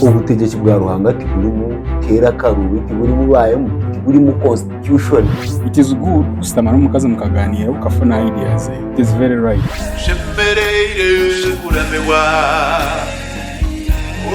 Obutegyeki bwa Ruhanga tiburimu keera akaruubi, tiburimu baayemu, tiburimu constitution. It is good kushutama n'omukazi mukagaaniira okafuna idea ze. It is very right. Nshemereire kuramirwa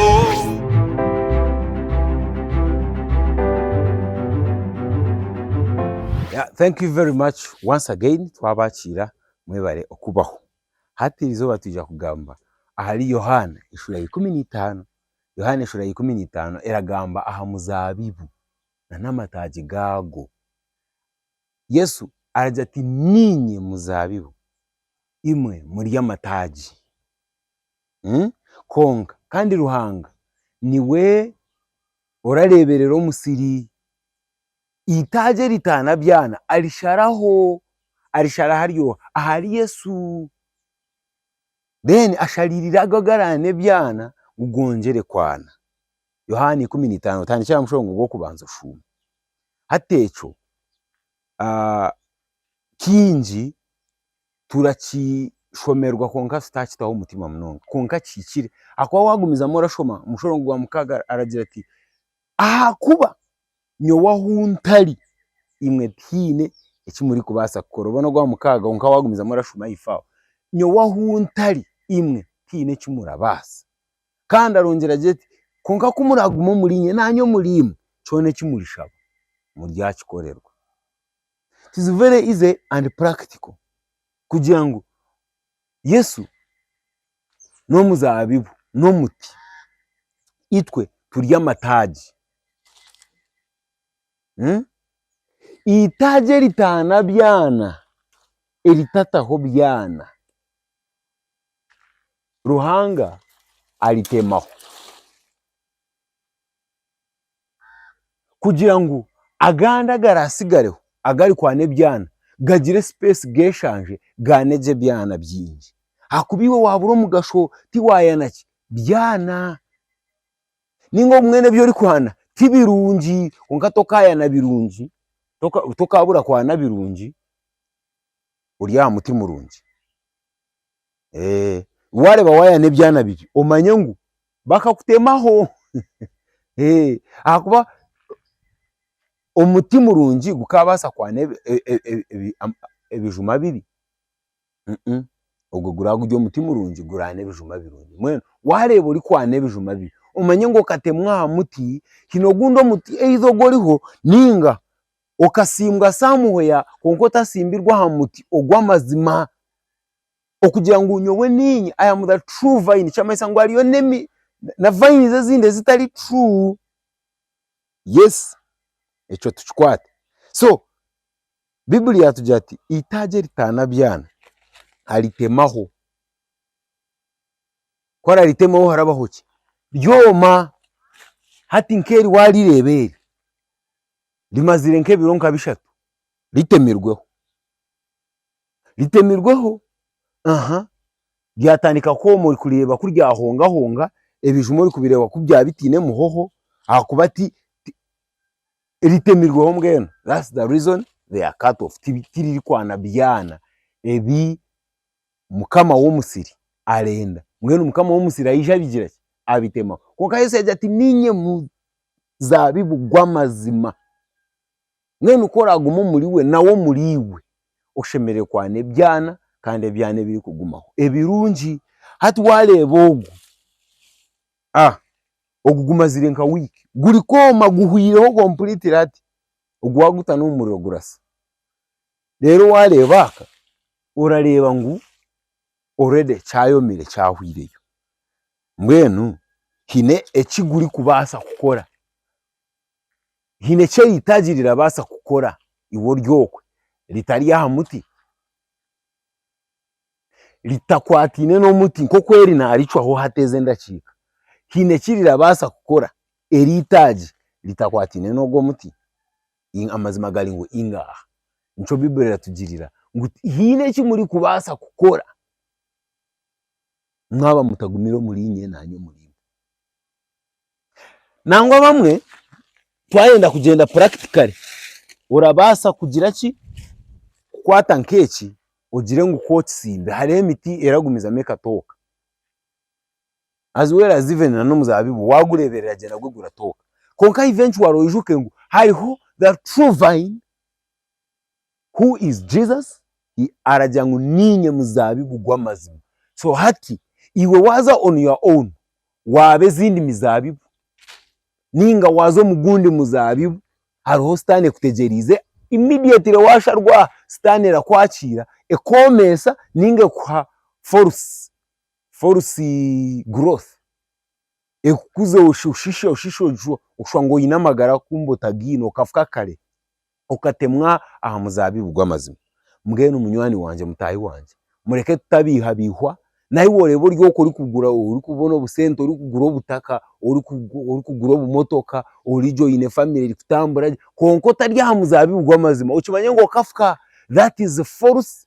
oh. Yeah thank you very much once again twabakiira mwebare okubaho. Hati iri izooba twija kugamba ahari Yohaana eshura ya ikumi n'eitaano. Yohaana eshura ya ikumi n'eitaano eragamba aha muzaabibu n'amataagi gaagwo. Yesu aragira ati, Niinye muzaabibu, imwe muri amataagi. Kwonka kandi Ruhanga niwe orareeberera omusiri. Eitaagi eritaana byana arisharaho arishara haryoha ahari Yesu. Then ashariirire ago agaraane ebyana ngu gongere kwana. Yohaana ikumi na itaano otandikire aha mushororongo gw'okubanza oshuume. Hati ekyo kiingi turakishomerwa kwonka tutaakitaho omutima munonga kwonka kihikire ahakuba waagumizamu orashoma omushororongo gwa mukaaga aragira ati, Ahakuba. Nyowe ahu ntari, imwe tihaine eki murikubaasa kukora. Obone ogwa mukaaga kwonka waagumizamu orashuma ahaifo aho. Nyowe ahu ntari, imwe tihaine eki murabaasa. Kandi arongyera agira ati, kwonka ku muraaguma omuriinye, naanye omuriimwe, kyona eki murishaba, muryakikorerwa. It is very easy and practical kugira ngu Yesu n'omuzaabibu n'omuti, itwe turi amataagi. Eitaagi eritaana byana, eritataho byana, Ruhanga aritemaho. kugira ngu agandi agaraatsigareho agarikwana ebyana gagire sipeesi geeshanje gaane gye ebyana bingi. Ahakuba iwe waabura omugasho tiwaayana ki? Byana. Nainga obumwe n'ebi orikwana ti birungi kwonka tokaayana birungi, tokaabura kwana birungi ori aha muti murungi. Eeh wareba wayana ebyana bigye omanye ngu bakakutemaho eeh ahakuba omuti murungi gukabasa kwana ebijuma bibi ogwe guraba guri omuti murungi gurana ebijuma birungi mbwenu wareba orikwana ebijuma bibi omanye ngu okatemwa aha muti hine ogundi omuti either oguriho ninga Okasimbwa Samuhea kwonka otasimbirwe aha muti ogw'amazima. Okugira ngu nyowe niinye I am the true vine nikimanyisa ngu hariyo na vines ezindi ezitari true. Yes ekyo tukikwate. So Bibuli yaatugira ati eitaagi eritaana byana aritemaho. Ku araritemaho harabaho ki? Ryoma. Hati nk'eri waarireeba eri. rimaziire nk'ebiro nka bishatu ritemirweho, ritemirweho aha ryatandika kwooma ori kureeba ku ryahongahonga ebijuma ori kubireeba ku byaba bitaine muhoho ahakuba ti ti ritemirweho mbwenu that's the reason they are cut off ti tirikwana byaana ebi mukama w'omusiri arenda, mbwenu mukama w'omusiri aije abigira ki? Abitemaho. Kwonka Yesu yaagira ati, Niinye muzaabibu gw'amazima, mbwenu ku oraagume omuri we nawe omuri iwe, oshemereire kwana ebyana kandi ebyana ebirikugumaho ebirungi. Hati waareeba ogu, ogu gumazire nka wiiki gurikwoma guhwireho kompuriitire hati, ogu waagutaho n'omu muriro gurasa. Reero waareeba aka, orareeba ngu already kyayomire kyahweireyo. Mbwenu haine eki gurikubaasa kukora, haine eki eitaagi rirabaasa kukora iwe ori okwe ritari aha muti, ritakwataine n'omuti nk'oku eri naaricwaho hateeza endakiika, haine eki rirabaasa kukora eri eitaagi ritakwataine n'ogwo muti? Amazima gari ngu ingaaha. Nikyo Baiburi eratugirira ngu tihaine eki murikubaasa kukora mwaba mutagumire omuriinye naanye omuriinye. Nangwa abamwe twayenda kugyenda practically, orabaasa kugira ki, kukwata nkeeki ogire ngu ku okitsimbe hariho emiti eragumizamu ekatooka. as well as even na n'omuzaabibu waagureeberera gye nagwo guratooka. Kwonka eventually oijuke ngu hariho the true vine who is Jesus, he aragira ngu niinye muzaabibu gw'amazima. So hati iwe waaza on your own waaba ezindi mizaabibu nainga waaza omu gundi muzaabibu hariho sitaane ekutegyereize, immediately waasharwa aha sitaane erakwakiira ekwomeesa nainga ekuha force. false growth ekukuza oshisha oshisha oshusha ngu oyine amagara kumbe otagine okafa kare okatemwa aha muzabibu gwamazima, mbwenu munywani wangye mutahi wangye mureke tutabihabihwa naiwe orebe ori oku orikugura orikubona obusente orikugura obutaka orikugura obumotoka origye oyine family erikutambura gye kwonka otari aha muzabibu gwamazima okimanye ngu okafa that is false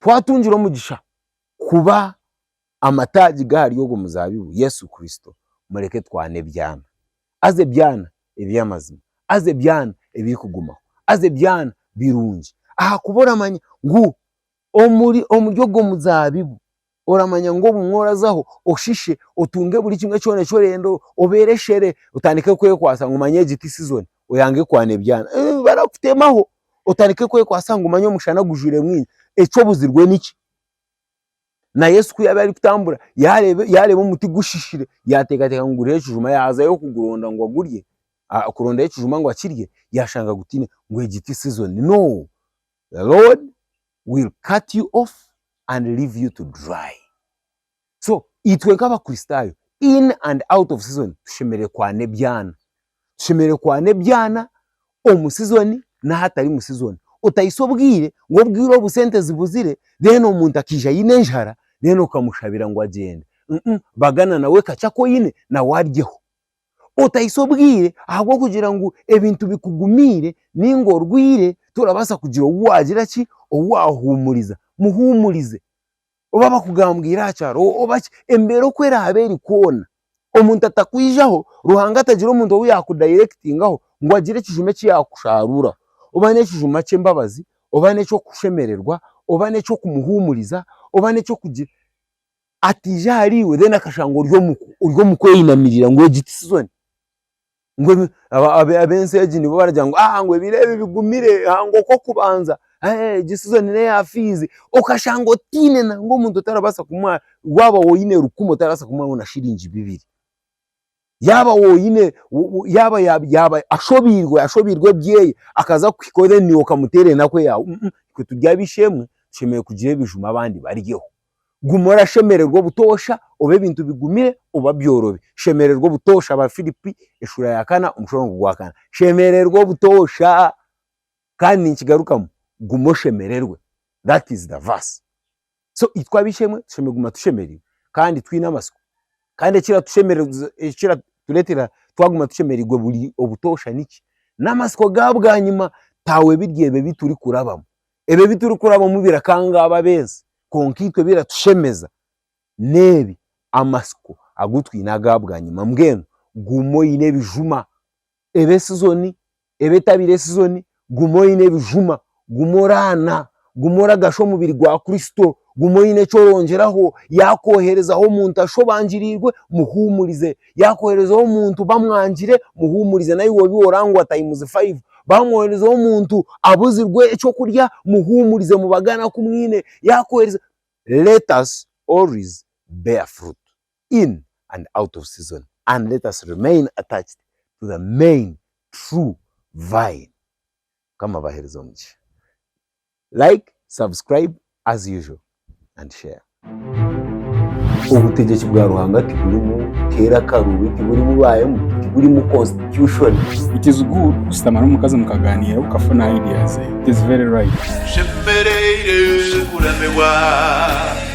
Twatungire omugisha kuba amataagi g'ahari ogwo muzaabibu, Yesu Kristo, mureke twane ebyana. Haza ebyana eby'amazima. Haza ebyana ebirikugumaho. Haza ebyana birungi. Ahakuba oramanya ngu omuri ogwo muzaabibu. oramanya ngu obumwe orazaho oshishe otunge buri kimwe kyona eki orenda obeere eshere otandike kwekwatsa ngu manya egi ti sizoni oyange kwana ebyana eeh barakutemaho otandike kwekwatsa ngu manya omushana gujwire mwingi eki obuzirwe niki? Na Yesu ku yaabaire arikutambura yaareeba yaareeba omuti gushishire yaateekateeka ngu guriho ekijuma yaazayo kuguronda ngu agurye, kurondayo ekijuma ngu akirye yaashanga gutaine ngu egi ti sizoni no! the Lord will cut you off and leave you to dry. So itwe nk'abakristaayo in and out of season tushemereire kwana ebyana. Tushemereire kwana ebyana omu season n'ahatari mu season. Otaisa obwire ngu obwire obu sente zibuzire then omuntu akaija aine enjara then okamushabira ngu agyende. Bagana nawe kacako oine nawe aryeho. otahisya obwire ahabw'okugira ngu ebintu bikugumiire nainga orwaire torabaasa kugira ou waagira ki, ou waahuumuriza. Muhuumurize. Oba bakugambwire aha kyaro oba ki, embeera oku eraabe eri kwona, omuntu atakwijaho, Ruhanga atagira omuntu ou yaakudayirekitingaho ngu agire ekijuma eki yaakusharuuraho. Oba n'ekijuma ky'embabazi, oba n'eky'okushemererwa, oba n'eky'okumuhuumuriza, oba n'eky'okugira. ataija ahari iwe then akashanga ori omu ori omu kweyinamirira ngu egi tisizoni. Ngu ebi aba aba ab'ensi egi nibo baragira ngu aa ngu ebiro ebi bigumire aa ngu okw'okubanza eehee egi sizoni n'eya fiizi, okashanga otiine nangwa omuntu otarabaasa kumuha waaba woine rukumi otarabaasa kumuhaho na shiringi bibiri. Yaaba woine, yaaba yaaba ashobeirwe, ashobeirwe ebyeye, akaza kukuhika ori then niiwe okamuteera enaku eyaawe. Itwe turi ab'eishe-emwe, tushemereire kugira ebijuma abandi baryeho. Guma orashemererwa obutoosha oba ebintu bigumire oba byorobi. Shemererwa obutoosha, Abaafiripi eshuura ya kana omushororongo gwa kana. Shemererwa obutoosha! Kandi ninkigarukamu, guma oshemererwe. That is the verse. So itwe ab'eishe-emwe tushemereire kuguma tushemereirwe kandi twine amatsiko. Kandi ekiratushemererwa, ekiratureetera twaguma tushemereirwe buri obutoosha niki? N'amatsiko ga bwanyima taawe biri ebi ebi turikurabamu. Ebi ebi turikurabamu birakanga abo ab'ensi, kwonka itwe ebiratushemeza n'ebi, amatsiko agu twine aga bwanyima. Mbwenu guma oine ebijuma. ebe sizoni, ebe etabire sizoni, guma oyine ebijuma, guma oraana, guma oragasha omubiri gwa Kristo, guma oyine eki orongyeraho, yaakoherezaho omuntu ashu obangiriirwe, muhuumurize, yaakoherezaho omuntu bamwangire, muhuumurize, naiwe obi wooraba ngu wa tayimuzi fayivu, baamwoherezaho omuntu abuzirwe eky'okurya, muhuumurize, mubagane aku mwine, yaakuheereza, let us always bear fruit. in and out of season and let us remain attached to the main true vine mukama abahereze omugisha like subscribe as usual and share. Obutegyeki bwa Ruhanga tiburimu keera karubi, tiburimu baemu, tiburimu constitution. It is good kushutama n'omukazi mukaganiira okafuna ideas ze. It is very right. Nshemereire kuramibwa.